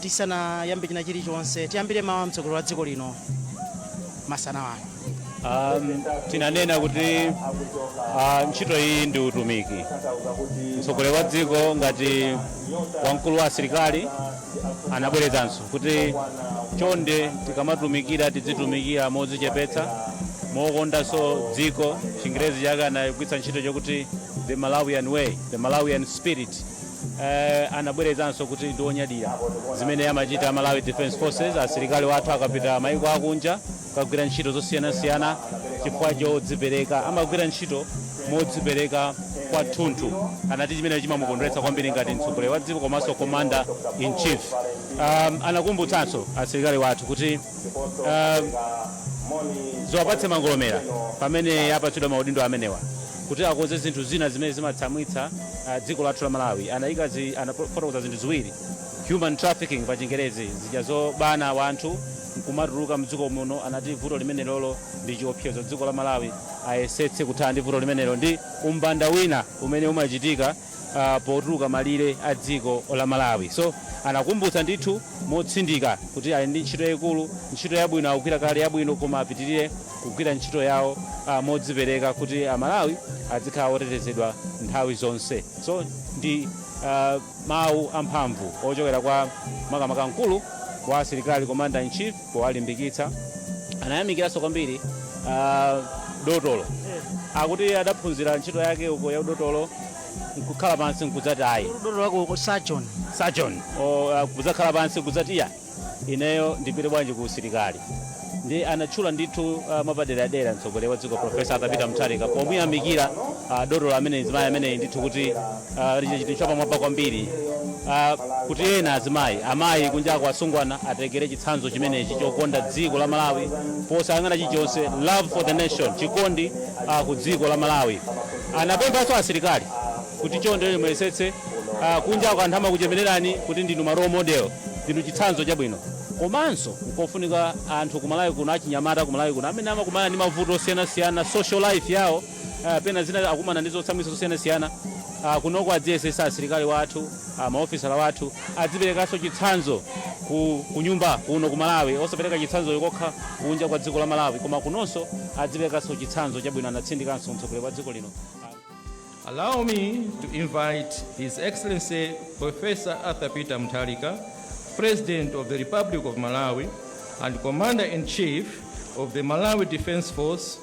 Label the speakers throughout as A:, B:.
A: tisanayambe china chilichonse tiyambire mawu a mtsogoleri wa dziko lino masana wano Um, tinanena kuti
B: ah, ntchito iyi ndi utumiki mtsogoleri wa dziko ngati wamkulu wa asilikali anabwerezanso kuti chonde tikamatumikira tidzitumikira modzichepetsa mokondanso dziko chingerezi chake anagwiritsa ntchito chokuti the malawian way the malawian spirit Eh, anabwerezanso kuti ndi onyadira zimene amachita Malawi Defence Forces asilikali wathu akapita maiko akunja kukagwira ntchito zosiyanasiyana chifukwa chodzipereka amagwira ntchito modzipereka kwathunthu anati chimene chimamukondweretsa kwambiri ngati mtsogoleri wa dziko komanso commander in chief um, anakumbutsanso asilikali wathu kuti um, ziwapatse mangolomera pamene apatsidwa maudindo amenewa kuti akonze zinthu zina zimene zimatsamwitsa ah, dziko lathu la malawi anayika zi- anafotokoza zinthu ziwiri human trafficking pa chingerezi zija zobana wanthu nkumatuluka mdziko muno anati vuto limenelolo ndi chiopsezo dziko la malawi ayesetse kuthana ndi vuto limenelo ndi umbanda wina umene umachitika ah, potuluka malire a dziko la malawi so anakumbutsa ndithu motsindika kuti ali ndi ntchito yayikulu ntchito yabwino akugwira kale yabwino koma apitirire kugwira ntchito yawo ah, modzipereka kuti amalawi adzikhala otetezedwa nthawi zonse so ndi ah, mawu amphamvu ochokera kwa makamaka mkulu wa asilikali commander in chief kuwalimbikitsa anayamikiranso kwambiri ah, dotolo akuti adaphunzira ntchito yake uko ya udotolo nkukhala pansi nkudzati ayi dotolo wako sajon
A: sajon
B: kudzakhala pansi kudzati ya ineyo ndipite bwanji ku usilikali ndi anatchula ndithu ah, mwapaderadera mtsogoleri wa dziko profesa Arthur Peter Mutharika pomuyamikira ah, dotolo amene mzimayi ameneyi ndithu kuti ah, achita chinthu chapamwamba kwambiri ah, kuti ena azimayi amayi kunjako asungwana atengere chitsanzo chimenechi chokonda dziko la malawi posayang'ana chilichonse love for the nation chikondi ah, ku dziko la malawi anapemphanso asilikali kuti chonde muyesetse ah, kunjako anthu amakuchemererani kuti ndinu ma role model ndinu chitsanzo chabwino komanso nkofunika anthu kumalawi kuno achinyamata kumalawi kuno amene amakumana ndi mavuto osiyanasiyana social life yawo ah, pena zina akumana ndi zotsamwitsa zosiyanasiyana ah, kunoko adziyesetsa asilikali wathu ah, maofisala wathu adziperekanso chitsanzo ku, ku nyumba kuno ku malawi osapereka chitsanzo kokha kunja kwa dziko la malawi koma kunonso adziperekanso chitsanzo chabwino anatsindikanso mtsogoleri wa dziko lino
C: Allow me to invite His Excellency Professor Arthur Peter Mutharika, President of the Republic of Malawi and Commander in Chief of the Malawi Defense Force,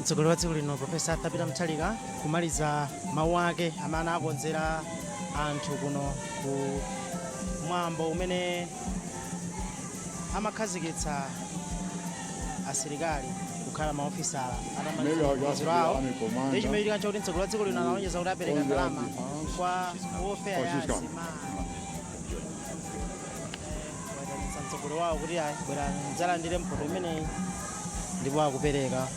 A: mtsogoleri wa dziko lino profesa arthur peter mutharika kumaliza mawu ake amene akonzera anthu kuno ku mwambo umene amakhazikitsa asilikali kukhala maofisala atamaliza maphunziro awo ndi chimene chikuchitika nchoti mtsogoleri wa dziko lino analonjeza kuti apereka ndalama kwa ofera ya asimayi kuwaitanitsa mtsogoleri wawo kuti ayi bwerani mudzalandire mphoto imeneyi ndipo akupereka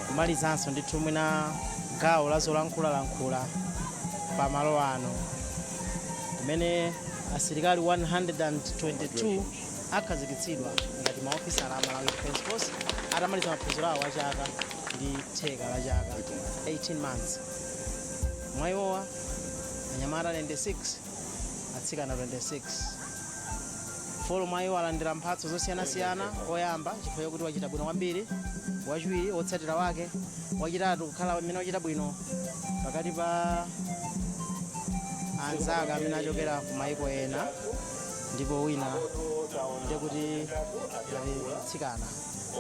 A: kumalizanso ndithu mwina gawo la zolankhulalankhula pa malo ano kumene asilikali 122 akhazikitsidwa ngati maofisala a malawi defense force atamaliza maphunziro awo a chaka ndi theka la chaka 18 months mwa iwowa anyamata 96 atsikana 26 folo mwa iwo alandira mphatso zosiyanasiyana oyamba chifukwa chakuti wachita bwino kwambiri wachiwiri wotsatira wake wachitatu kukhala amene wachita bwino pakati pa anzake amene achokera ku maiko ena ndipo wina ndekuti ali mtsikana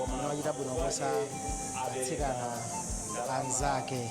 A: amene wachita bwino kuposa atsikana anzake